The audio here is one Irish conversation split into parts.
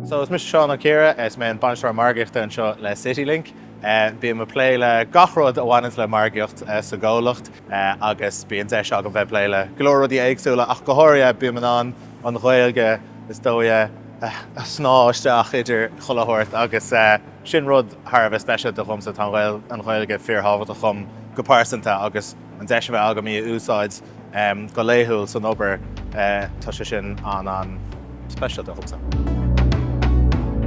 So is mise Seán Ó Ciardha is mé an Bainisteoir Margaíochta anseo le CityLink. Bím ag plé le gach rud a bhaineanns le margaíocht sa gcomhlacht agus bíonn deis agam bheith ag plé le go leor rudaí éagsúla ach go háirithe bím in ann an Ghaeilge is dóigh a shníomh isteach idir chuile shórt agus sin rud thar a bheith speisialta dhomsa. Tá an Ghaeilge fíor thábhachtach dhom go pearsanta agus an deis a bheith agam í a úsáid go laethúil san obair, tá sé sin an-speisialta domsa.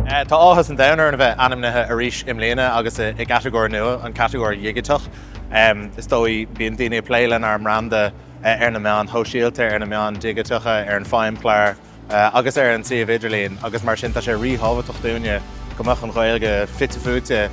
Tá áthas an domhain orainn a bheith ainmnithe arís i mbliana agus i gcatagóir nua, an catagóir dhigiteach. Is dóigh, bíonn daoine ag plé lenár mbranda ar na meáin shóisialta, ar na meáin dhigiteacha, ar an Feidhmchlár, agus ar an suíomh idirlín agus mar sin tá sé ríthábhachtach dúinne go mbeadh an Ghaeilge fite fuaite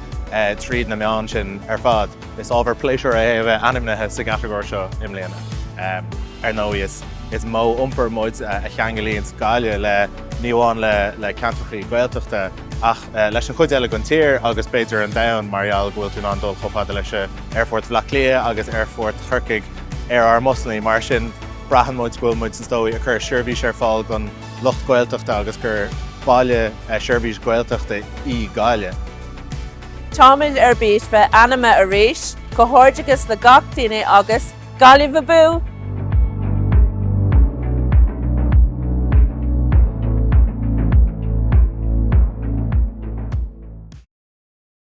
tríd na meáin sin ar fad. Is ábhar pléisiúir é a bheith ainmnithe sa gcatagóir seo i mbliana. Ar ndóigh, is modh iompair muid a cheanglaíonns Gaillimh ní amháin le ceantrachaí Gaeltachta ach, leis an chuid eile den tír agus b'fhéidir an domhan mar gheall go bhfuil tú in ann dul chomh fada leis Aerfort Bhleá Cliath agus Aerfort Chorcaigh ar ár mbusannaí. Mar sin braitheann muid go bhfuil muid, is dóigh, ag cur seirbhís ar fáil don lucht Gaeltachta agus gur baile seirbhís Gaeltachta í Gaillimh. Táimid ar bís bheith ainmnithe arís, comhghairdeachas le gach duine agus. Gaillimh Abú!